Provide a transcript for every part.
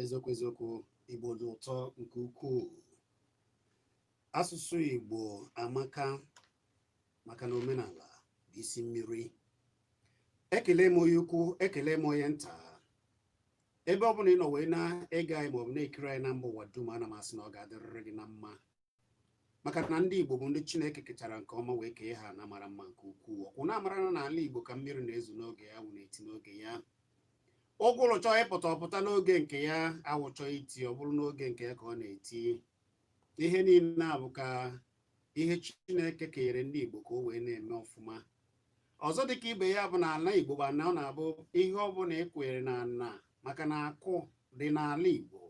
eziokwu eziokwu igbo dị ụtọ nke ukwuu asụsụ igbo amaka maka na omenala bụ isi mmiri ekele m onye ukwu ekele m onye nta ebe ọ bụla ị nọ wee na-ege anyị maọbụ na-ekiri anyị na mba ụwa dum ana m asị na ọ ga-adịrịrị gị na mma maka na ndị Igbo bụ ndị Chineke kechara nke ọma wee kee ha ana mara mma nke ukwuu ọkwa ụnụ amara na n'ala Igbo ka mmiri na-ezo n'oge ya anwụ na-eti n'oge ya ụgụrụ chọọ ịpụta ọ pụta n'oge nke ya anwụ chọọ iti ọ bụrụ n'oge nke ya ka ọ na-eti ihe niile na-abụ ka ihe Chineke kenyere ndị Igbo ka o wee na-eme ọfụma ọzọ dịka ibe ya bụ na ala Igbo bụ ana ọ na-abụ ihe ọ bụla ị kụnyere na ana maka na akụ dị n'ala Igbo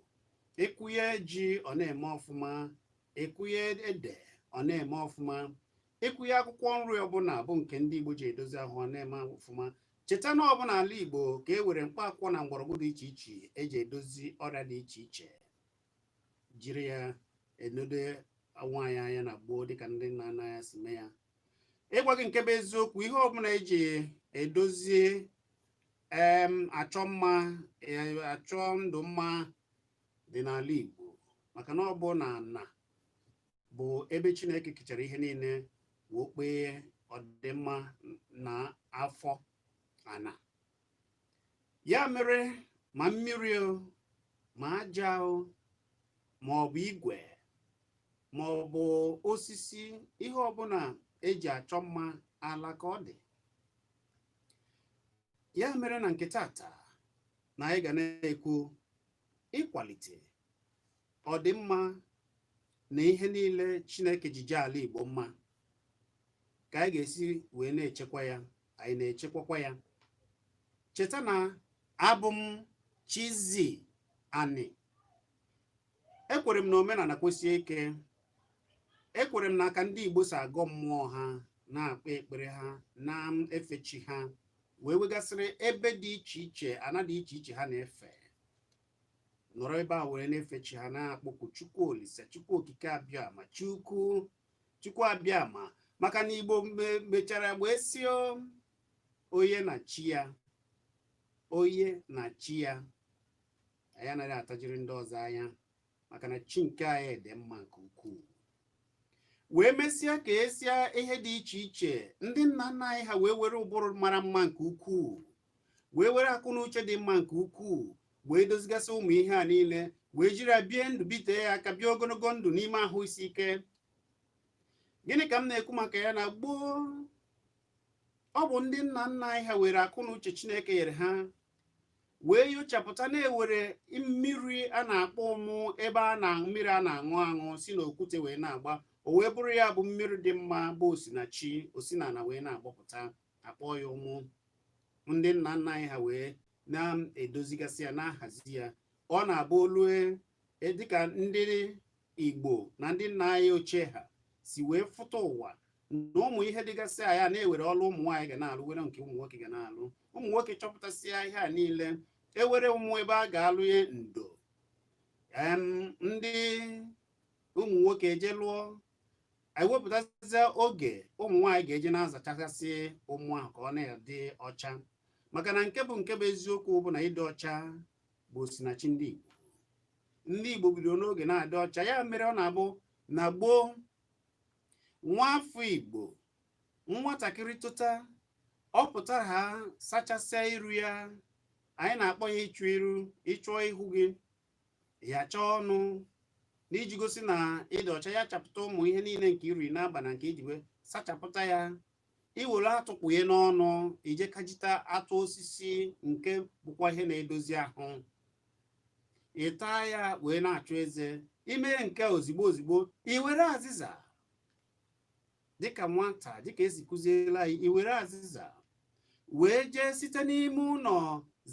ị kụnye ji ọ na-eme ọfụma ị kụnye ede ọ na-eme ọfụma ị kụnye akwụkwọ nri ọbụla bụ nke ndị Igbo ji edozi ahụ ọ na-eme ọfụma cheta na ọ bụ na ala Igbo ka e nwere mkpa akwụkwọ na mgbọrọgwụ dị iche iche eji edozi ọrịa dị iche iche jiri ya enedo onwe anyị anya na gboo dịka ndị nna nna anyị si mee ya ịgwa gị nke bụ eziokwu ihe ọbụla eji edozie em achọ mma e, achọ ndụ mma dị n'ala Igbo maka na ọ bụ na ana bụ ebe Chineke kechara ihe niile wee kpee ọdịmma na afọ ana ya mere ma mmiri o ma aja o ma ọ bụ igwe ma ọ bụ osisi ihe ọbụla eji achọ mma ala ka ọ dị ya mere na nke taata na anyị ga na-ekwu ịkwalite ọdịmma na ihe niile Chineke ji jee ala Igbo mma ka anyị ga-esi wee na-echekwa ya anyị na-echekwakwa ya cheta na abụ m Chizzy Ani ekwere m na omenala kwesie ike ekwere m na aka ndị Igbo si agọ mmụọ ha na-akpa ekpere ha na-efe chi ha wee nwegasịrị ebe dị iche iche ana dị iche iche ha na-efe nọrọ ebe a were na-efe chi ha na-akpọku Chukwu Olisa Chukwu Okike Abịama Chukwu chukwu abịama maka na igbo mechara wee sị onye na chi ya onye na chi ya anyị anaghị atajiri ndị ọzọ anya maka na chi nke anyị dị mma nke ukwuu wee mesịa kesịa ihe dị iche iche ndị nna nna anyị ha wee were ụbụrụ mara mma nke ukwuu wee were akụ na uche dị mma nke ukwuu wee dozigasị ụmụ ihe a niile wee jiri ya bie ndụ bitee ya aka bie ogologo ndụ n'ime ahụ isi ike gịnị ka m na-ekwu maka ya na gboo ọ bụ ndị nna nna anyị ha were akụ na uche Chineke nyere ha wee nyochapụta na e were mmiri a na-akpọ ụmụ ebe mmiri a na-aṅụ aṅụ si n'okwute wee na-agba o wee bụrụ ya bụ mmiri dị mma bụ osinachi o si n'ala wee na-agbapụta a kpọọ ya ụmụ ndị nna nna anyị ha wee na-edozigasị ya na-ahazi ya ọ na-abụ o lue e, dịka ndị Igbo na ndị nna anyị ochie ha si wee fụta ụwa na ụmụ ihe dịgasị na ya na e were ọlụ ụmụ nwaanyị ga na-alụ were nke ụmụ nwoke ga na-alụ ụmụ nwoke chọpụtasịa ihe a niile e were ụmụ ebe a ga-alụ ya ndo ndị ụmụ nwoke eje lụọ anyị wepụtasịa oge ụmụ nwaanyị ga-eji na-azachasị ụmụ ahụ ka ọ na-adị ọcha maka na nke bụ nke bụ eziokwu bụ na ịdị ọcha bụ osinachi ndị Igbo ndị Igbo bidoro n'oge na-adị ọcha ya mere ọ na-abụ na gboo nwa afọ Igbo nwatakịrị teta ọ pụtara ha sachasịa iru ya anyị na-akpọ ya ịchụ iru ị chụọ ihu gị ya chụọ ọnụ n'iji gosi na ịdị ọcha ya chapụta ụmụ ihe niile nke i ri n'abanị nke i ji wee sachapụta ya i were atụ kpụye n'ọnụ i jee kpajita atụ osisi nke bụkwa ihe na-edozi ahụ ị taa ya wee na-achụ eze i mee nke a ozigbo ozigbo i were azịza dịka nwata dịka e si kụziela anyị i were azịza wee jee site n'ime ụlọ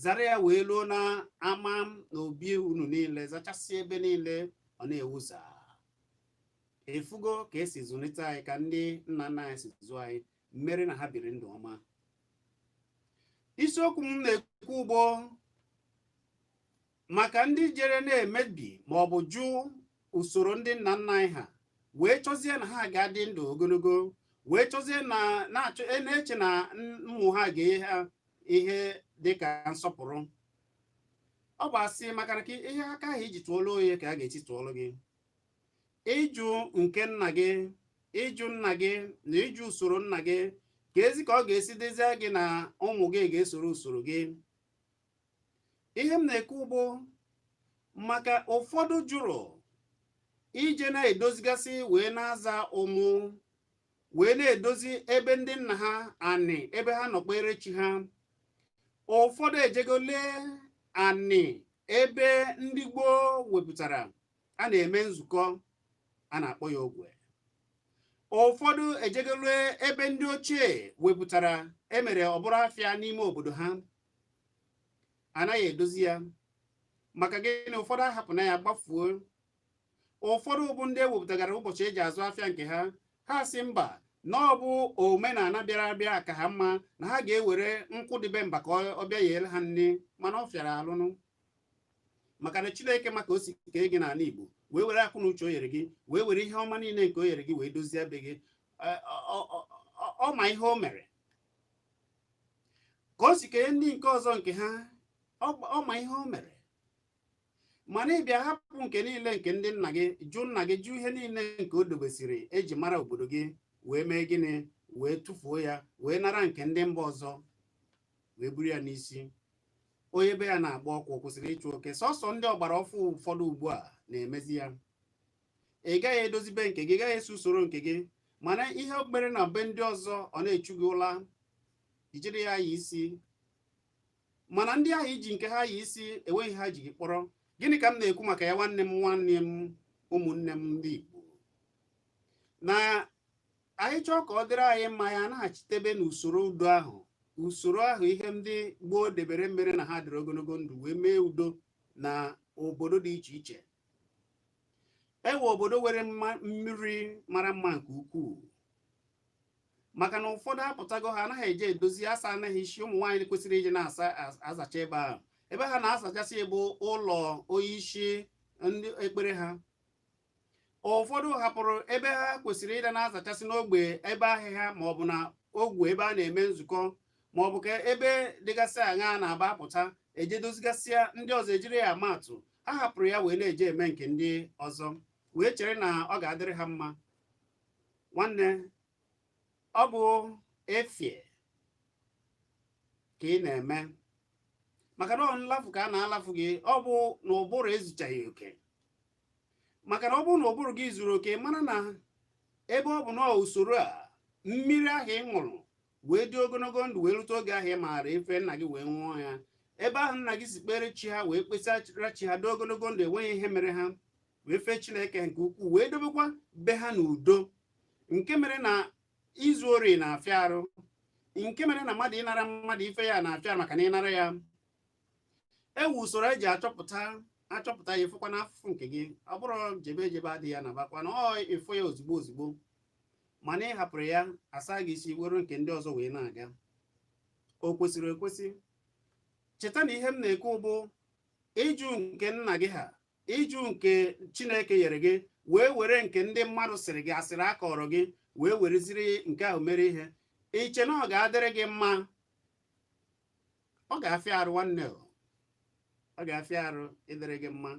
zara ya wee luo n'ama n'obi unu niile zachasị ebe niile ọ na-ewuza ị fụgo ka e si zụlite anyị ka ndị nna nna anyị si zụọ anyị mere na ha biri ndụ ọma isiokwu m na-ekwu ugbo maka ndị jere na-emebi ma ọ bụ jụ usoro ndị nna nna anyị ha wee chọzie na ha ga-adị ndụ ogologo wee chọzie na-eche na ụmụ ha ga-enye ha ihe dị ka nsọpụrụ ọ bụ asị maka na ihe aka ahụ i ji tụọlụ onye ka a ga-eji tụọlụ gị ị jụ nke nna gị ị jụ nna gị na ị jụ usoro nna gị kezi ka ọ ga-esi dịzie gị na ụmụ gị ga-esoro usoro gị ihe m na-ekwu bụ maka ụfọdụ jụrụ ije na-edozigasị wee na-aza ụmụ wee na-edozi ebe ndị nna ha anị ebe ha nọ kpere chi ha ụfọdụ ejego lee anị ebe ndị gboo wepụtara a na-eme nzukọ a na-akpọ ya ogwe ụfọdụ ejego lee ebe ndị ochie wepụtara e mere ọ bụrụ afịa n'ime obodo ha anaghị edozi ya maka gịnị ụfọdụ ahapụna ya gbafuo ụfọdụ bụ ndị ewepụtagara ụbọchị e ji azụ afịa nke ha ha sị mba na ọ bụ omenala bịara abịa ka ha mma na ha ga-ewere nkụ dị be mba ka ọ bịa yere ha nni mana ọ fịara alụnụ maka na chineke ma ka o si kee gị n'ala igbo wee were akọ na uche o yere gị wee were ihe ọma niile nke o yere gị wee dozie be gị ọ ma ihe o mere ka o si kenye ndị nke ọzọ nke ha ọ ma ihe o mere mana ị bịa hapụ nke niile nke ndị nna gị jụ nna gị jụ ihe niile nke o dobesiri e ji mara obodo gị wee mee gịnị wee tụfuo ya wee nara nke ndị mba ọzọ wee buru ya n'isi onye be ya na-agba ọkụ kwụsịrị ịchụ oke sọsọ ndị ọgbara ọfụ ụfọdụ ugbu a na-emezi ya ị gaghị edozi be nke gị gaghị esi usoro nke gị mana ihe okpere na be ndị ọzọ ọ na-echu gị ụla i jiri ya yi isi mana ndị ahụ i ji nke ha yi isi enweghị ha ji gị kpọrọ gịnị ka m na-ekwu maka ya nwanne m nwanne m ụmụnne m ndị Igbo na anyị chọọ ka ọ dịrị anyị mma ya anaghachitebe n'usoro udo ahụ usoro ahụ ihe ndị gboo debere mere na ha dịrị ogologo ndụ wee mee udo na obodo dị iche iche e nwee obodo nwere mmiri mara mma nke ukwuu maka na ụfọdụ apụtago ha anaghị eje edozi asa anaghị isi ụmụ nwaanyị kwesịrị ije na-azacha ebe ahụ ebe ha na-azachasị bụ ụlọ onyeisi ndị ekpere ha ụfọdụ hapụrụ ebe ha kwesịrị ịda na-azachasị n'ogbe ebe ahịhịa ma ọ bụ na ogwe ebe a na-eme nzukọ ma ọ bụ ka ebe dịgasị aṅaa na-aba apụta eje dozigasịa ndị ọzọ ejiri ya ama atụ ha hapụrụ ya wee na-eje eme nke ndị ọzọ wee chere na ọ ga-adịrị ha mma nwanne ọ bụ efie ka ị na-eme maka na ọ nlafu ka a na-alafu gị ọ bụ na ụbụrụ ezuchaghị oke maka na ọ bụrụ na ụbụrụ gị zuru oke mara na ebe ọ bụ na usoro a mmiri ahụ ị ṅụrụ wee dị ogologo ndụ wee rute oge ahụ ị maara ife nna gị wee ṅụọ ya ebe ahụ nna gị si kpere chi ha wee kpesara chi ha dị ogologo ndụ enweghị ihe mere ha wee fee chineke nke ukwuu wee dobekwa be ha n'udo nke mere na izu ori na-afịa arụ nke mere na mmadụ ịnara mmadụ ife ya na-afịa arụ maka na ịnara ya enwe usoro eji achọpụta achọpụta ya afụkwa n'afụfụ nke gị ọ bụrụ jebe ejebe adịghị ya na bakwa na ọ ịfụ ya ozugbo ozugbo mana ị hapụrụ ya asaa gị isi were nke ndị ọzọ wee na-aga o kwesịrị ekwesị cheta na ihe m na-ekwu bụ ịjụ nke nna gị ha ịjụ nke chineke nyere gị wee were nke ndị mmadụ sịrị gị asịrị akọọrọ gị wee wereziri nke ahụ mere ihe iche na ọ ga-adịrị gị mma ọ ga-afịa arụ nwanne ọ ga-afịa arụ ịdịrị gị mma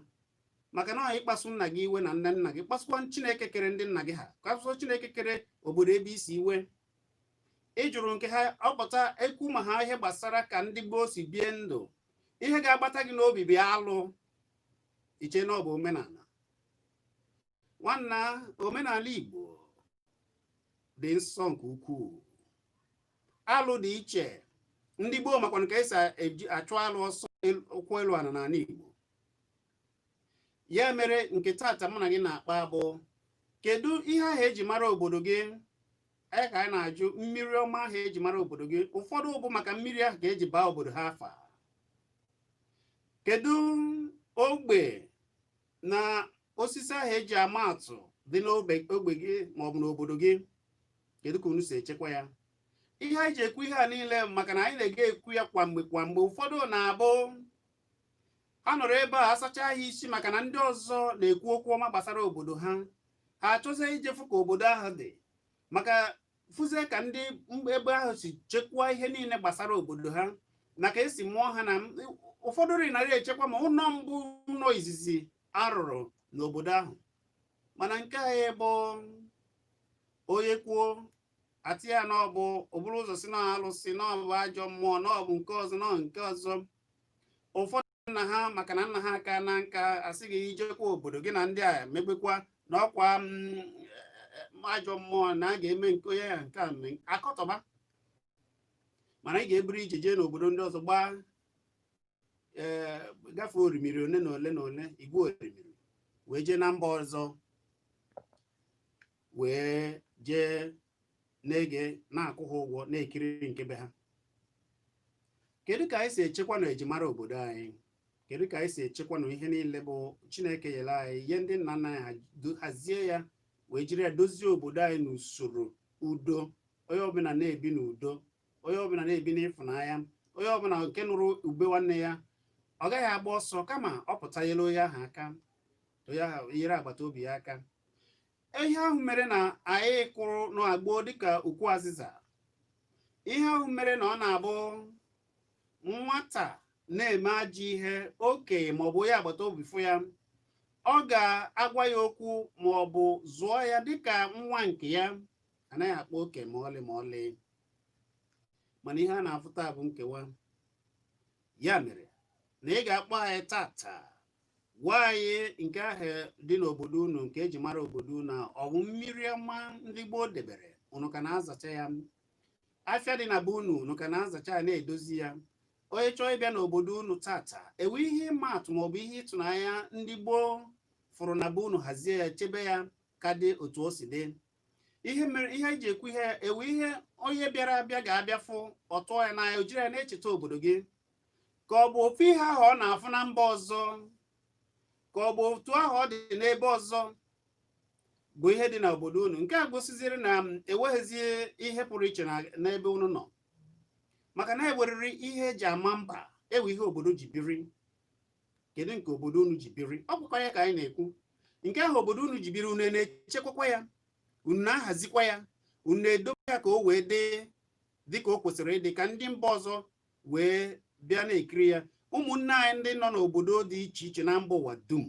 maka na ịkpasu nna gị iwe na ndị nna gị kpasukwa chineke kere ndị nna gị ha kpasụọ chineke kere obodo ebe i si iwe ịjụrụ nke ha ọpụta ekwu maka ihe gbasara ka ndị gboo si bie ndụ ihe ga-agbata gị n'obi bụ alụ iche na ọ bụ omenala nwanna omenala Igbo dị nsọ nke ukwuu alụ dị iche ndị gboo makwanụ ka esi achụ alụ ọsọ ụkwụ elu ana n'ala Igbo ya mere nke taata mụ na gị na-akpa bụ kedu ihe ahụ eji mara obodo gị anyị ka anyị na-ajụ mmiri ọma ahụ eji mara obodo gị ụfọdụ bụ maka mmiri ahụ ka eji baa obodo ha afa kedu ogbe na osisi ahụ eji ama atụ dị n'ogbe gị maọbụ n'obodo gị kedu ka unu si echekwa ya ihe anyị ji ekwu ihe a niile maka na anyị na-aga ekwu ya kwa mgbe kwa mgbe ụfọdụ na-abụ ha nọrọ ebe a asacha ha isi maka na ndị ọzọ na-ekwu okwu ọma gbasara obodo ha ha achọzie ije fụ ka obodo ahụ dị maka fụzie ka ndị ebe ahụ si chekwaa ihe niile gbasara obodo ha na ka esi mụọ ha na ụfọdụ nri narị echekwa ma ụlọ mbụ ụlọ izizi arụrụ n'obodo ahụ mana nke anyị bụ onye kwuo asị ya n'ọbụ eburu ụzọ sị na alụsị n'ọbụ ajọ mmụọ n'ọbụ nke ọzọ na nke ọzọ ụfọdụ nna ha maka na nna ha akana nka asị gị ijekwa obodo gị na ndị a emegbukwa na ọkwa mm, eh, ajọ mmụọ na a ga-eme nke onye ya nke a mme akọtọba mana ị ga-eburu ije jee n'obodo ndị ọzọ gbaa ee eh, gafee orimiri ole na ole na ole igwe orimiri wee jee na mba ọzọ wee jee na-ege na-akwụ ha ụgwọ na-ekiri nke be ha kedu ka anyị si echekwanụ ejimara obodo anyị kedu ka anyị si echekwanụ ihe niile bụ chineke nyere anyị ihe ndị nna nna anyị hazie ya wee jiri ya dozie obodo anyị n'usoro udo onye ọbụla na-ebi n'udo onye ọbụla na-ebi n'ịfụnanya onye ọbụla nke nụrụ ube nwanne ya ọ gaghị agba ọsọ kama ọ pụta nyere onye ahụ aka onye ahụ nyere agbata obi ya aka ihe ahụ mere na anyị kwụrụ na gboo dịka ukwu azịza ihe ahụ mere na ọ na-abụ nwata na-eme ajọ ihe okenye maọbụ onye agbata obi fụ ya ọ ga-agwa ya okwu maọbụ zụọ ya dịka nwa nke ya anaghị akpa oke ma ọlị ma ọlị mana ihe a na-afụ taa bụ nkewa ya mere na ị ga-akpọ anyị tata gwa anyị nke ahụ dị n'obodo unu nke eji mara obodo unu ọ bụ mmiri ọma ndị gboo debere unu ka na-azacha ya afịa dị na be unu unu ka na-azacha ya na-edozi ya onye chọọ ịbịa n'obodo unu tata enwe ihe ịma atụ maọbụ ihe ịtụnanya ndị gboo fụrụ na be unu hazie ya chebe ya ka dị otu o si dị ihe mere ihe eji ekwu ihe a enwe ihe onye bịara abịa ga-abịa fụ ọ tụọ ya n'anya o jiri ya na-echeta obodo gị ka ọ bụ ofu ihe ahụ ọ na-afụ na mba ọzọ ka ọ bụ otu ahụ ọ dị n'ebe ọzọ bụ ihe dị n'obodo unu nke a gosiziri na enweghịzi ihe pụrụ iche n'ebe unu nọ maka na enwerịrị ihe eji ama mba enwe ihe obodo ji biri kedu nke obodo unu ji biri ọ bụkwa ya ka anyị na-ekwu nke ahụ obodo unu ji biri unu na-echekwakwa ya unu na-ahazikwa ya unu na-edobe ya ka o wee dị dị ka o kwesịrị ịdị ka ndị mba ọzọ wee bịa na-ekiri ya ụmụnne anyị ndị nọ n'obodo dị iche iche na mba ụwa dum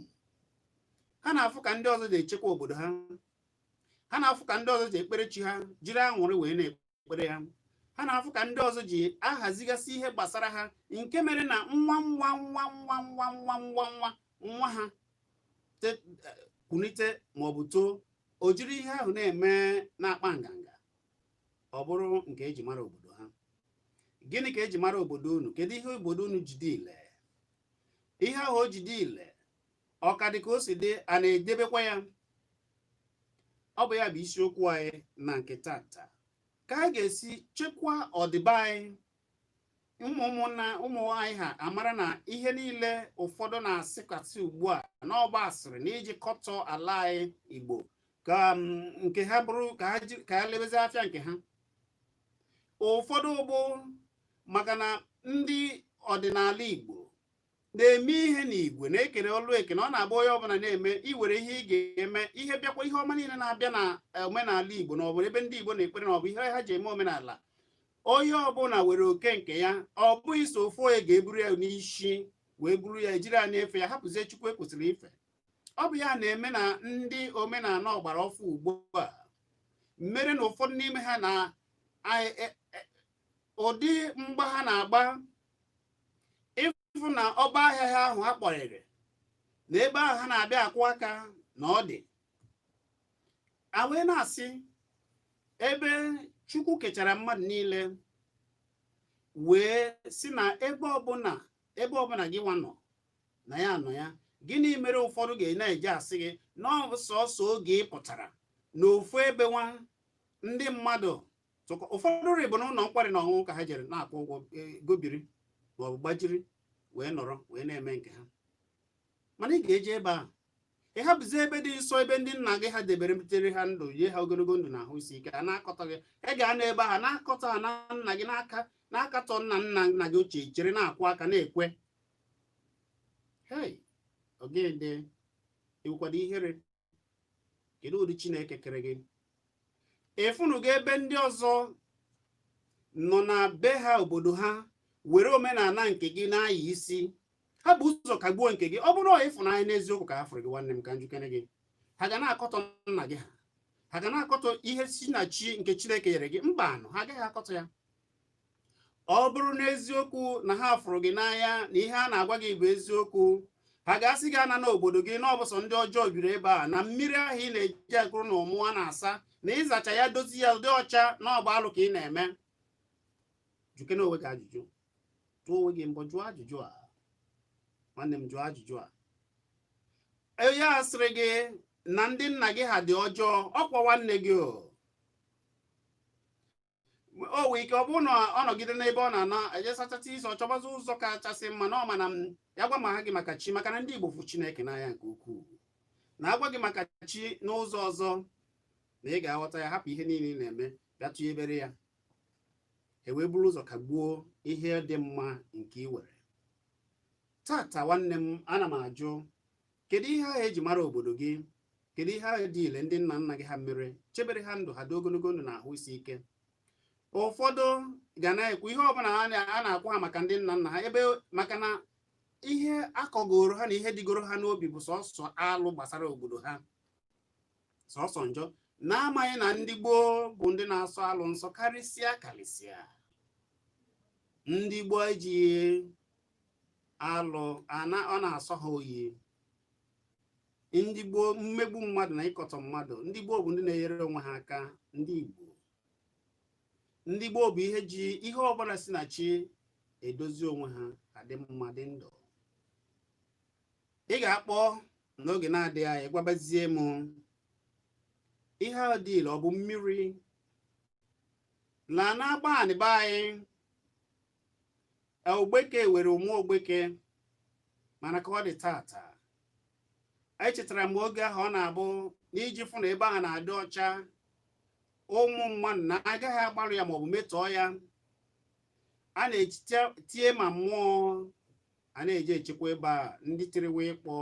ha na-afụ ka ndị ọzọ ji echekwa obodo ha ha na-afụ ka ndị ọzọ ji ekpere chi ha jiri anwụrị wee na-ekpere ha ha na-afụ ka ndị ọzọ ji ahazigasị ihe gbasara ha nke mere na nwa nwa nwa nwa nwa nwa nwa nwa nwa ha kunite maọbụ too o jiri ihe ahụ na-eme na-akpa nganga ọ bụrụ nke eji mara obodo ha gịnị ka eji mara obodo unu kedu ihe obodo unu ji dị ile ihe ahụ o ji dị ile ọ ka dị ka o si dị a na-edebekwa ya ọ bụ ya bụ isiokwu anyị na nke tata ka anyị ga-esi chekwa ọdịbe anyị ụmụ ụmụnna ụmụ anyị ha amara na ihe niile ụfọdụ na-asịkasị ugbu a n'ọgba asịrị na iji kọtọ ala anyị Igbo ka um, nke ha bụrụ ka ha ka ha lebezi afịa nke ha ụfọdụ ụgbụ maka na ndị ọdịnala Igbo na-eme ihe n'igwe na-ekere ọlụ eke na ọ na-agba onye ọbụla na-eme i were ihe ị ga-eme ihe bịakwa ihe ọma niile na-abịa na eh, omenala Igbo na ọ bụ ebe ndị Igbo na-ekpere na ọ bụ ihe ha ji eme omenala onye ọbụla were oke nke ya ọ bụghị so ofu onye ga-eburu ya n'isi wee buru ya ejiri ya na-efe ya hapụzie Chukwu e kwesịrị ife ọ bụ ya na-eme na ndị omenala ọgbara ọfụ ugbu a mere na ụfọdụ n'ime ha na e, e, e, ụdị mgba ha na-agba ịfụ na ọ bụ ahịa ha ahụ ha kpọrịrị na ebe ahụ ha na-abịa akwụ aka na ọ dị a wee na-asị ebe chukwu kechara mmadụ niile wee sị na ebe ọbụla ebe ọbụla gị nwa nọ na ya nọ ya gịnị mere ụfọdụ ga na-eji asị gị na ọ bụ sọsọ oge ị pụtara na ofu ebe nwa ndị mmadụ ụfọdụ rị bụ na ụlọ nkwari na ọṅụṅụ ka ha jere na-akwụ ụgwọ e, gobiri maọbụ gbaziri wee nọrọ wee na-eme nke ha mana ị ga-eje ebe a ị hapụzi ebe dị nsọ ebe ndị nna gị ha debere butere ha ndụ yie ha ogologo ndụ na ahụ isi ike a na-akọtọ gị ị ga na ebe ha na-akọtọ ha na nna gị n'aka na-akatọ nna nna nna gị ochie jere na-akwụ aka na-ekwe hei ogede i wekwado ihere kedu ụdị chineke kere gị ị fụnugo ebe ndị ọzọ nọ na be ha obodo ha were omenala nke gị na-ayị isi ha bu ụzọ kagbuo nke gị ọ bụrụ ịfụnanya n'eziokwu ka ha fụrụ gị nwanne m ka m jụkene gị ha ga na-akọtọ nna gị ha ha ga na-akọtọ ihe si na chi nke chineke nyere gị mbanụ ha agaghị akọtọ ya ọ bụrụ n'eziokwu na ha fụrụ gị n'anya na ihe a na-agwa gị bụ eziokwu ha ga-asị gị ana n'obodo gị na ọ bụ sọ ndị ọjọọ biri ebe a na mmiri ahụ ị na-eje ekuru na ụmụ a na-asa na ịzacha ya dozi ya ọ dị ọcha na ọ bụ alụ ka ị na-eme jụkene onwe gị ajụjụ jụọ onwe gị mbọ jụọ ajụjụ a nwanne m jụọ ajụjụ a onye a sịrị gị na ndị nna gị ha dị ọjọọ ọkwa nwanne gị o o wee ike ọ bụrụ na ọ nọgide n'ebe ọ na-ana ejesachata isi ọ chọbazi ụzọ kachasị mma na ọ ma na ma ya gwa ma ha gị maka chi maka na ndị Igbo fụ Chineke n'anya nke ukwuu na a gwa gị maka chi n'ụzọ ọzọ na ị ga-aghọta ya hapụ ihe niile ị na-eme bịa tụnyebere ya e wee buru ụzọ kagbuo ihe dị mma nke ị were tata nwanne m ana m ajụ kedu ihe ahụ eji mara obodo gị kedu ihe ahụ dị ile ndị nna nna gị ha mere chebere ha ndụ ha dị ogologo ndụ na ahụ isi ike ụfọdụ ga na-ekwu ihe ọbụla a na-akwụ ha maka ndị nna nna ha ebe maka na ihe akọgoro ha na ihe dịgoro ha n'obi bụ sọsọ alụ gbasara obodo ha sọsọ njọ na-amaghị na ndị gboo bụ ndị na-asọ alụ nsọ karịsịa karịsịa ndị gboo ejighị alụ ọ na-asọ ha oyi ndị gboo mmegbu mmadụ na ịkọtọ mmadụ ndị gboo bụ ndị na-enyere onwe ha aka ndị Igbo ndị gboo bụ ihe ji ihe ọbụla si na chi edozi onwe ha adị mma dị ndụ ị ga-akpọ n'oge na-adịghị anya gwabazie m ihe ahụ dị ile ọ bụ mmiri na n'Agbanị be anyị ogbeke were ụmụ ogbeke mana ka ọ dị tata echetara m oge ahụ ọ na-abụ n'iji fụ na ebe ahụ na-adị ọcha ụmụ mmadụ na agaghị agbarụ ya maọbụ metọọ ya a na-etie ma mmụọ a na-eji echekwa ebe a ndị tiriwe ịkpọ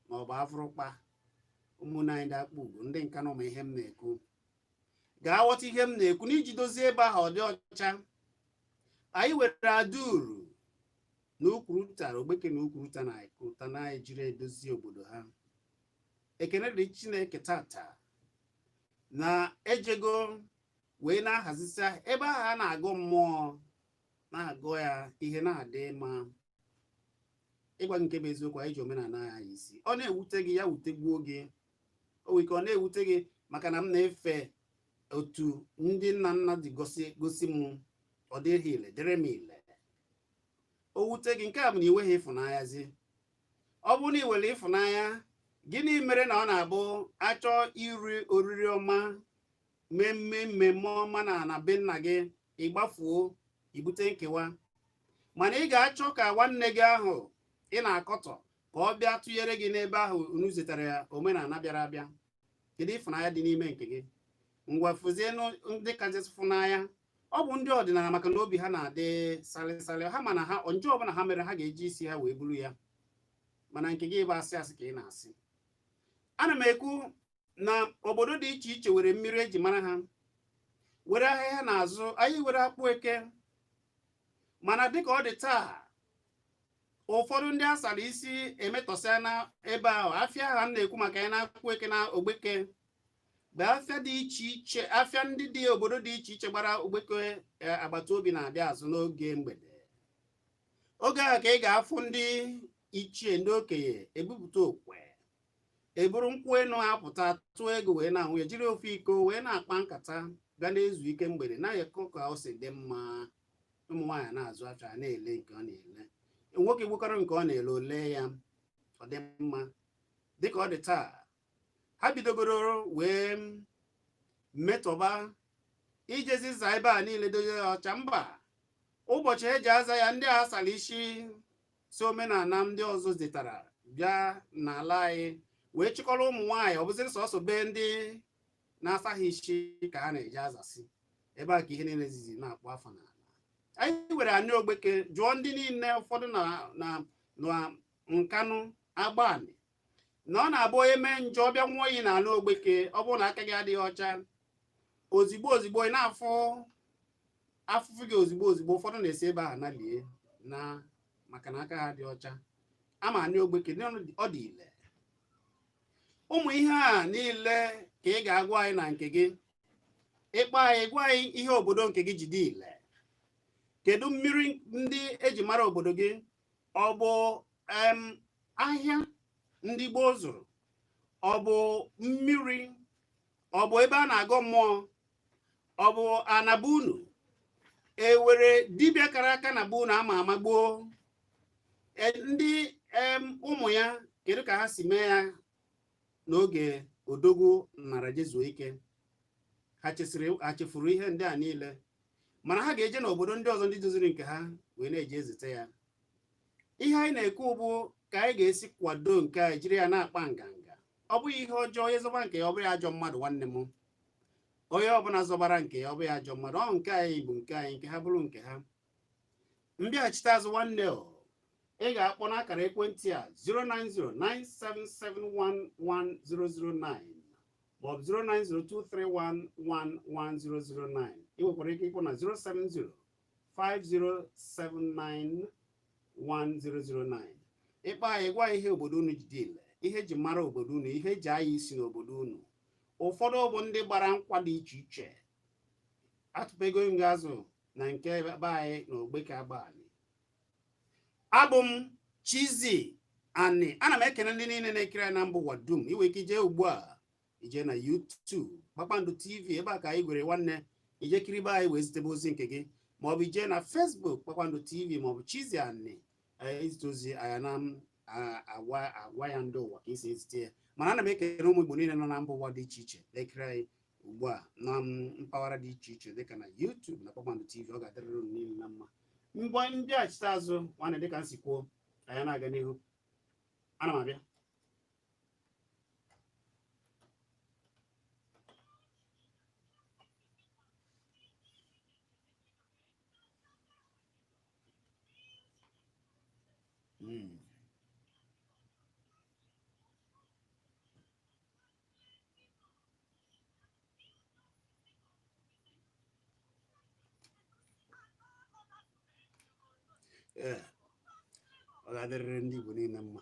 maọbụ afụrụkpa ụmụnna anyị ndị Akpugo ndị Nkanụ ma ihe m na-ekwu ga-aghọta ihe m na-ekwu n'iji dozie ebe ahụ ọ dị ọcha anyị nwere aduru na ukwuruta ogbeke na ukwuruta na ukwuruta na-ejiri edozi obodo ha ekene dịrị chineke tata na ejego wee na-ahazisi ebe ahụ a na-agọ mmụọ na-agọ ya ihe na-adị mma ịgwa gị nke bụ eziokwu anyị ji omenala anyị isi ọ na-ewute gị ya wutegbuo gị o nwere ike ọ na-ewute gị maka na m na-efe otu ndị nna nna ji gosi m ọ dịrị ha ile dịrị m ile o wute gị nke a bụ na ị nweghị ịfụnanyazi ọ bụrụ na ị nwere ịfụnanya gịnị mere na ọ na-abụ a chọọ iri oriri ọma mmemme mmemme ọma na na be nna gị ị gbafuo i bute nkewa mana ị ga-achọ ka nwanne gị ahụ ị na-akọtọ ka ọ bịa tụnyere gị n'ebe ahụ unu zetara ya omenala bịara abịa kedu ịfụnanya dị n'ime nke gị ngwa fụzienụ ndị kachasị fụnanya ọ bụ ndị ọdịnala maka na obi ha na-adị salịsalị ha ma na ihe njọ ọbụla ha mere ha ga-eji isi ha wee buru ya mana nke gị bụ asị asị ka ị na-asị ana m ekwu na obodo dị iche iche were mmiri eji mara ha were ahịa ha na-azụ anyị were akpụ eke mana dịka ọ dị taa ụfọdụ ndị a sara isi emetọsịana ebe ahụ afịa ha na-ekwu maka ya na akpụ eke na ogbeke bụ afịa dị iche iche afịa ndị dị obodo dị iche iche gbara ogbeke eh, agbata obi na-abịa azụ n'oge mgbede oge ahụ ka ị ga-afụ ndị ichie ndị okenye ebupụta okwe eburu nkwụ enu apụta tụọ ego wee na-anwụ ya jiri ofu iko wee na-akpa nkata ga na-ezu ike mgbede na-akọ ka o si dị mma ụmụ nwaanyị na-azụ afịa na-ele nke ọ na-ele nwoke gbukọrọ nke ọ na-ele o lee ya ọ dị mma dịka ọ dị taa ha bidogoro wee metọba ijezi za ebe a niile dozie ọcha mba ụbọchị eji aza ya ndị a sara isi si omenala ndị ọzọ zitara bịa n'ala anyị wee chịkọrọ ụmụ nwaanyị ọ bụzịrị sọsọ be ndị na-asaghị isi ka a na-eji azasị ebe a ka ihe niile sizi na-akpọ afọ n'ala anyị were anị ogbeke jụọ ndị niile ụfọdụ na nkanụ agbanị na ọ na-abụ onye mee njọ ọ bịa nwụọ iyi n'anị ogbeke ọ bụrụ na aka gị adịghị ọcha ozigbo ozigbo ị na-afụ afụfụ gị ozigbo ozigbo ụfọdụ na-esi ebe ahụ nalie na maka na aka ha dị ọcha ama anị ogbeke na ọ dị ile ụmụ ihe a niile ka ị ga-agwa anyị na nke gị ị kpọọ anyị gwa anyị ihe obodo nke gị ji dị ile kedu mmiri ndị eji mara obodo gị ọ bụ ahịa ndị gboo zụrụ ọ bụ mmiri ọ bụ ebe a na-agọ mmụọ ọ bụ ana be unu ewere dibịa kara aka na be unu a ma ama gboo e, ndị ụmụ ya kedu ka ha si mee ya n'oge odogwu nara jezuo ike ha chefuru ihe ndị a niile mana ha ga-eje n'obodo ndị ọzọ ndị doziri nke ha wee na-eji ezite ya ihe anyị na-ekwu bụ ka anyị ga-esi kwado nke anyị jiri ya na-akpa nganga ọ bụghị ihe ọjọọ onye zọba nke ya ọ bụghị ajọ mmadụ nwanne m onye ọbụla zọbara nke ya ọ bụghị ajọ mmadụ ọ nke anyị bụ nke anyị nke ha bụrụ nke ha m bịachite azụ nwanne o ị ga-akpọ n'akara ekwentị a 09097711009 maọbụ 09023111009 ị nwekwara ike ịkpọ na 07050791009 ị kpọọ anyị gwa ihe obodo unu ji dị ile ihe eji mara obodo unu ihe eji anya isi n'obodo unu ụfọdụ bụ ndị gbara nkwa dị iche iche atụpego m gị azụ na nke be anyị na Ogbeke Agbani abụ m Chizzy Ani ana m ekene ndị niile na-ekiri anyị na mba ụwa dum i nwe ike ije ugbu a i jee na YouTube Kpakpando TV ebe a ka anyị gwere nwanne i jee kiribe anyị wee zitebe ozi nke gị maọbụ i jee na Facebook Kpakpando TV maọbụ Chizzy Ani eh, i zite ozi anyị ana-agwa ya ndị ụwa ka i si ezite ya mana ana m ekele ụmụ Igbo niile nọ na mba ụwa dị iche iche na-ekiri anyị ugbu a na mpaghara dị iche iche dịka na YouTube na Kpakpando TV ọ ga-adịrịrị unu niile na mma mgbe m bịachite azụ nwanne dịka m si kwuo anyị ana-aga n'ihu ana m abịa Mm. ee ọ ga-adịrịrị ndị Igbo niile mma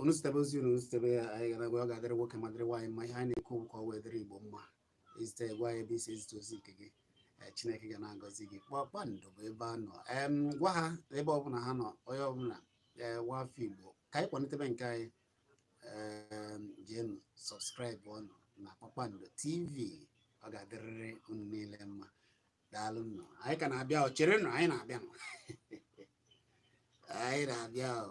unu zitebe ozi unu zitebe ya anyị ga na-agụ ya ọ ga-adịrị nwoke ma dịrị nwaanyị mma ihe anyị na-ekwu ka o wee dịrị igbo mma i zite gwa anyị ebe i si ezite ozi nke gị eh, chineke ga na-agọzi gị kpakpando bụ ebe a nọ em gwa ha ebe ọbụla ha nọ onye ọbụla ee nwa afọ igbo ka anyị kwalitebe nke anyị em jeenụ subscribe ọnụ na kpakpando tv ọ ga-adịrịrị unu niile mma daalụnụ o anyị ka na-abịa o cherenụ anyị na-abịanụ anyị na-abịa o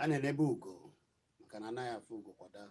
a na-enebe ugo maka na a naghị afụ ugo kwa daa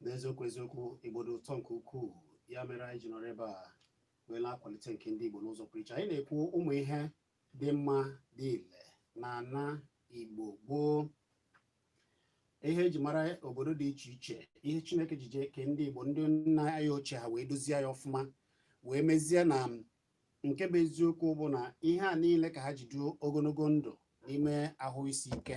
n'eziokwu eziokwu igbo dị ụtọ nke ukwuu ya mere anyị ji nọrọ ebe a wee na-akwalite nke ndị igbo n'ụzọ pụrụ iche anyị na-ekwu ụmụ ihe dị mma dị ile na ana igbo gboo ihe eji mara obodo dị iche iche ihe chineke ji jee kee ndị igbo ndị nna anyị ochie ha wee dozie ya ọfụma wee mezie na nke bụ eziokwu bụ na ihe a niile ka ha ji dụọ ogologo ndụ n'ime ahụ isi ike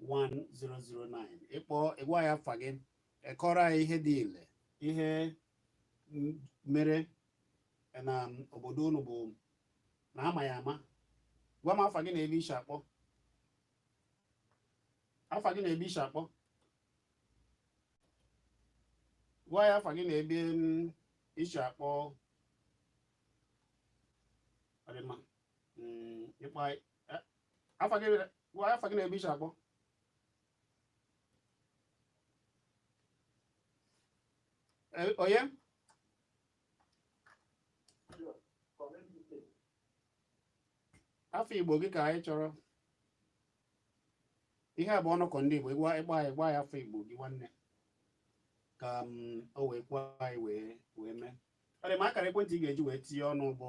1009 ị kpọọ ị gwa ya afa gị ị kọọrọ anyị ihe dị ile ihe mere na obodo unu bụ na ama ya ama gwa m afa gị na ebe i shi akpọ afa gị na ebe i shi akpọ gwa ya afa gị na ebe i shi akpọ ọ dị mma ị kpọ afa gị gwa afa gị na ebe i shi akpọ Eh, onye afa igbo gị ka anyị chọrọ ihe a bụ ọnọkọ ndị igbo ị gwa ị gwa anyị gwa ya afa igbo gị nwanne ka mm, o wee kwuo anyị wee wee mee ọ dị mma akara ekwentị ị ga-eji wee tinye ọnụ bụ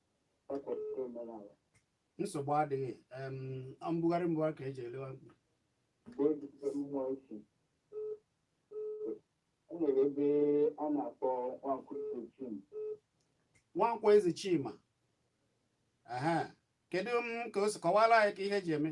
nsogbu adịghị mbugharị mbugharị ka eji ele nwa mkpi nwankwo eze chima aha kedu m ka o si kọwara anyị ka ihe ji eme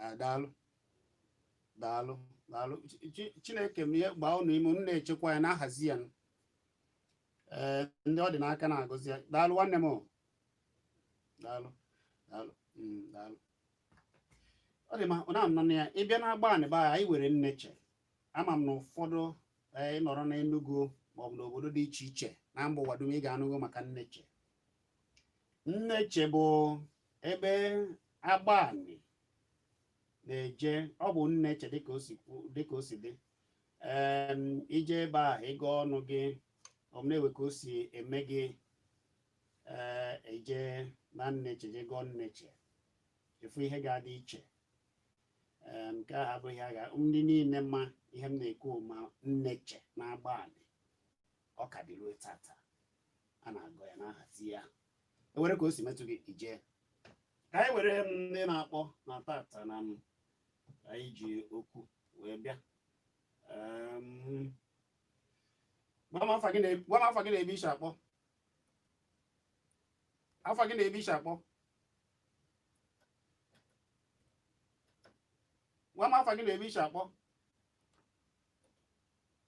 Ah, daalụ daalụ daalụ Chi- Chi- chineke mee gbaa unu ume unu na-echekwa ya na-ahazi ya ee ndị ọ dị n'aka na-agọzi ya daalụ nwanne m o. daalụ daalụ mm, daalụ ọ dị mma ọ na-anọ na ya ị bịa na agbanị be anyị nwere nneche ama m na ụfọdụ ee, ị nọrọ n'Enugu maọbụ n'obodo dị iche iche na mba ụwa dum ị ga-anụgo maka nneche nneche bụ ebe agbanị na-eje ọ bụ nneche dịka o si dị ị jee ebe ahụ ịga ọnụ gị o mewe ka o si eme gị eh, e jee na nneche jee gọọ nneche e fụ ihe ga-adị iche nke a abụghị agha ndị niile ma ihe m na-ekwu ma nneche na agba ọ ka dị ruo tata a na-agọ ya na-ahazi ya ewere ka o si metụ gị ije ka anyị were ndị na-akpọ na tata na m anyị ji okwu wee bịa Em, gwa m afa gị na ebe i si akpọ afa gị na ebe i si akpọ gwa m afa gị na ebe i si akpọ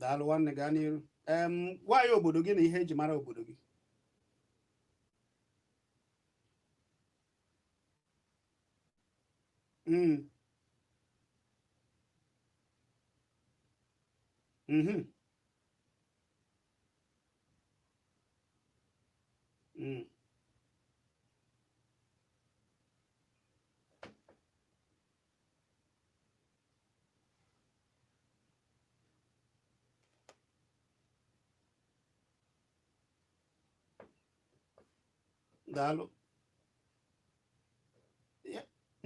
daalụ nwanne gaa n'iru gwa anyị obodo gị na ihe eji mara obodo gị mm. mhm. mm. daalụ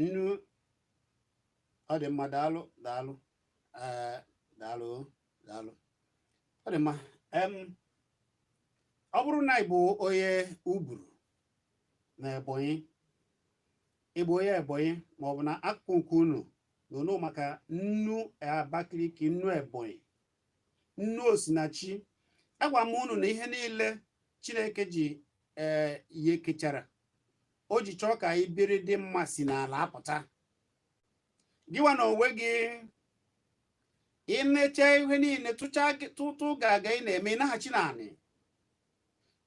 nnu ọ dị mma daalụ daalụ eh, daalụ daalụ ọ dị mma ọ bụrụ na ị bụ onye uburu na ebonyi ị bụ onye ebonyi ma ọ bụ na akụkụ nke unu na unu maka nnu abakaliki nnu ebonyi nnu osinachi agwa m unu na ihe niile chineke ji ee eh, ihe kechara o ji chọọ ka anyị biri dị mma si n'ala apụta gịwa na onwe gị i mecha ihe niile tụtụ gaga ị na-eme ị naghachi n'anị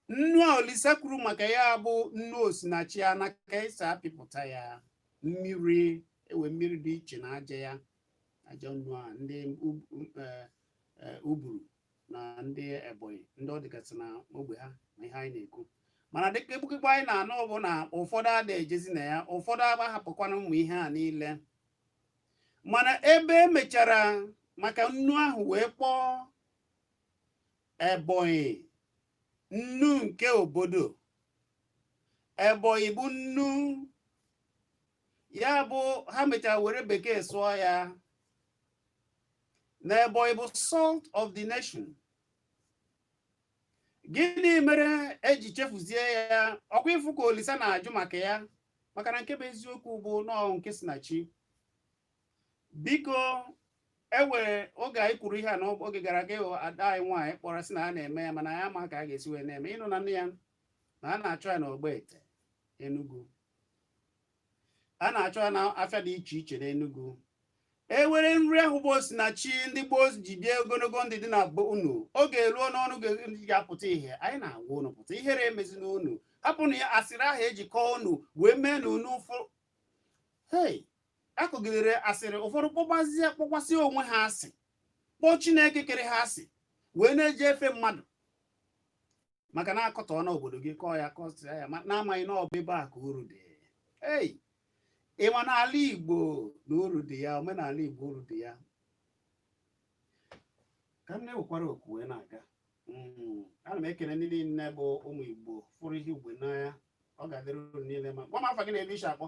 nnu a Olisa kwuru maka ya bụ nnu osinachi a na ka esi apịpụta ya mmiri ewe mmiri dị iche na aja ya aja nnu a ndị e, e, uburu na ndị ebonyi ndị ọ dịgasị na ogbe ha na ihe anyị na-ekwu mana dịka egbukigbo anyị na-anụ bụ na ụfọdụ ada ejezi na ya ụfọdụ agbahapụkwana ụmụ ihe a niile mana ebe emechara maka nnu ahụ wee kpọọ ebonyi nnu nke obodo Ebonyi bụ nnu ya bụ ha mechara were bekee sụọ ya na Ebonyi bụ salt of the nation gịnị mere eji chefuzie ya ọkwa ị fụ ka Olisa na-ajụ maka ya maka na nke bụ eziokwu bụ na ọ bụ nke si na chi biko enwere oge anyị kwuru ihe a n'oge gara aga ịghọ ada anyị nwaanyị kpọrọ sị na a na-eme ya mana ya ma ka a ga-esi wee na-eme ịnụ na nne ya na a na-achọ ya n'Ogbete Enugu a na-achọ ya n'afịa dị iche iche n'Enugu e nwere nri ahụ bụ osinachi ndị gboo ji ebi ogologo ndụ dị na be unu oge eruo n'unu ga-apụta ihe anyị na-agwa unu pụta ihere emezina unu hapụnụ ya asịrị ahụ e ji kọọ unu wee mee na unu ụfọdụ hei akọgidere asịrị ụfọdụ kpọbazie kpọkwasị onwe ha asị kpọọ chineke kere ha asị wee na-eji efe mmadụ maka na akọtọọna obodo gị kọọ ya kọsịa ya na-amaghị na ọ bụ ebe a ka uru dị ei ị ma na ala igbo na uru dị ya omenala igbo uru dị ya ka m na-ewekwara oku wee na-aga hmm, ana m ekele ndị niile bụ ụmụ igbo fụrụ ihe igbo n'anya ọ ga-adịrị unu niile mma gwa m afa gị na ebe i si akpọ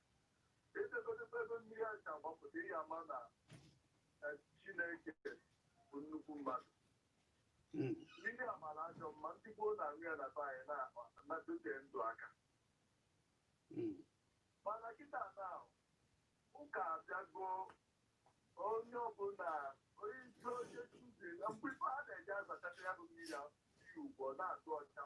etegotekwa ebe mmiri a si agbapụta ị ga-ama na chineke bụ nnukwu mmadụ Mm. mmiri a mara ajọ mma ndị gboo na-aṅụ ya na be anyị na- na-adọte ndụ aka Mm. mana kịta na ụka abịago onye ọbụla onye isi onye tuzi na mgbe ife a na-eji azachata ya bụ mmiri a mmiri ugwu na-atụ ọcha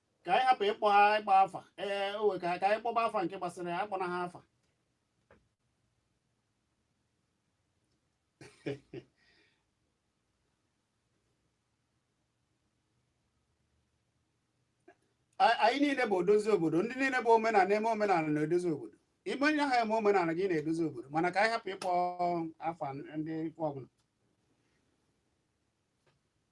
ka anyị hapụ ịkpọ ha ịkpọ afa ee owe ka ka anyị kpọba afa nke gbasara ya akpọna ha afa A- anyị niile bụ odozi obodo ndị niile bụ omenala eme omenala na-edozi obodo ime onye ahụ eme omenala gị na-edozi obodo mana ka anyị hapụ ịkpọ afa ndị ife ọbụla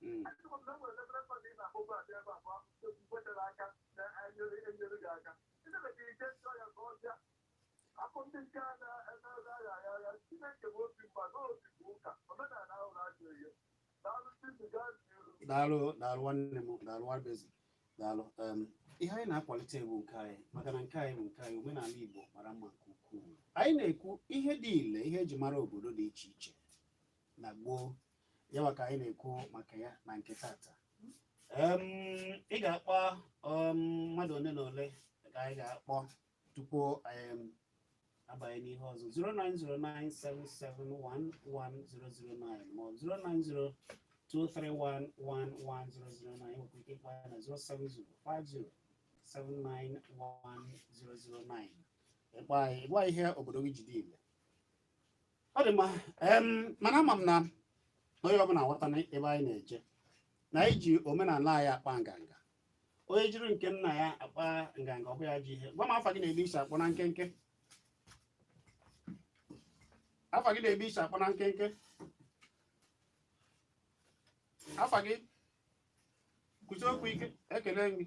Mm. daalụ daalụ nwanne m daalụ Nwabueze daalụ Em, ihe anyị na-akwalite bụ nke anyị maka na nke anyị bụ nke anyị omenala igbo mara mma nke ukwuu anyị na-ekwu ihe dị ile ihe e ji mara obodo dị iche iche na gboo ya wa ka anyị na-ekwu maka ya na nke tata Em, ị ga-akpọ um, mmadụ ole na ole ka anyị ga-akpọ tupu um, a banye n'ihe ọzọ 09097711009 ma ọ bụ 09023111009 nwekwa ike ịkpọ ya na 07050791009 ị kpọọ anyị gwa ihe obodo gị ji dị ile ọ dị mma mana ama m na onye ọbụla aghọtana ebe anyị na-eje na anyị ji omenala anyị akpa nganga onye jiri nke nna ya akpa nganga ọ bụ ya ji ihe gwa m afa gị na ebe i si akpọ na nkenke afa gị na ebe i si akpọ na nkenke afa gị kwusi okwu ike ekele m gị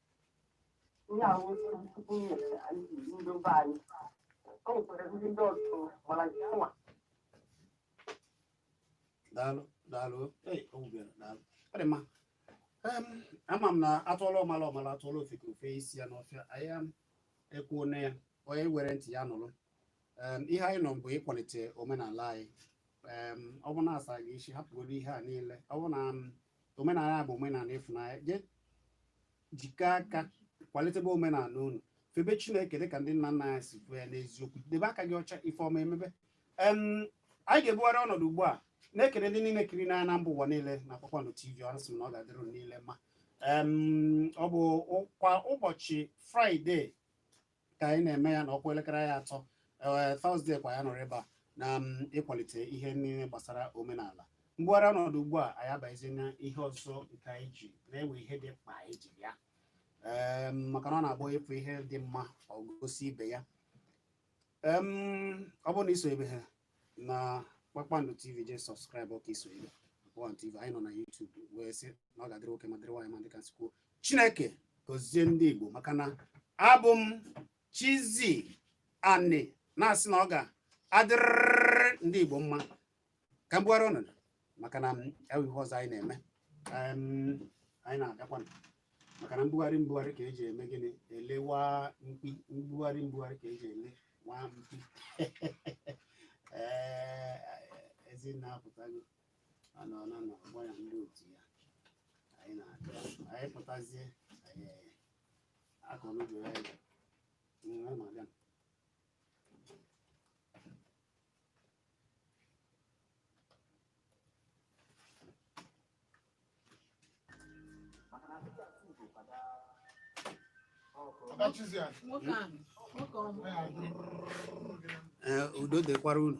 ihe ahụ tupu nyere anyị ndị be anyị o nwekwara ndị ndị ọzọ mara nke nwa daalụ daalụ ei o wubere daalụ ọ dị mma Em, ama m na a tụọla ọmala ọ mala a tụọla ofeke o fe isi ya n'ọfịa anyị ekwuona ya onye were ntị ya nụrụ Em, ihe anyị nọ bụ ịkwalite omenala anyị Em, ọ bụ na a sị gị sị hapụgodu ihe a niile ọ bụ na m omenala bụ omenala ịfụnanya jee jikọọ aka kwalitebe omenala unu febe Chineke dịka ndị nna nna anyị si kwuo ya n'eziokwu debe aka gị ọcha ife ọma emebe anyị ga-ebugharị ọnọdụ ugbu a na-ekele ndị niile kirina anyị na mba ụwa niile na Kpakpando TV asị m na ọ ga-adịrị unu niile mma ọ bụ kwa ụbọchị Friday ka anyị na-eme ya na ọ kụọ elekere anyị atọ ee Thursday kwa anyị anọrọ ebe a na ịkwalite ihe niile gbasara omenala m bugharịa ọnọdụ ugbu a anyị abazie na ihe ọzọ nke anyị ji na e nwe ihe dị mkpa anyị ji ya ee maka na ọ na-abụ ị fụ ihe dị mma ọ gosi ibe ya Em, ọ bụrụ na i sobeghị na Kpakpando TV jee subscribe ka i sobe One TV anyị nọ na YouTube wee sị na ọ ga-adịrị nwoke mma dịrị nwaanyị mma dịka m si kwuo Chineke gọzie ndị Igbo maka na abụ m Chizzy Ani na-asị na ọ ga-adịrịrị ndị Igbo mma ka m bugharịa ọnọdụ maka na e nwe ihe ọzọ anyị na-eme anyị na-agakwa maka na mbugharị mbugharị ka e ji eme gịnị ele nwa mkpi mbugharị mbugharị ka e ji ele nwa mkpi ee Ezinne apụtago anọ na na ọgbọ ya ndị otu ya anyị na-aga anyị pụtazie anyị akọnụgo ya ya udo dịkwara unu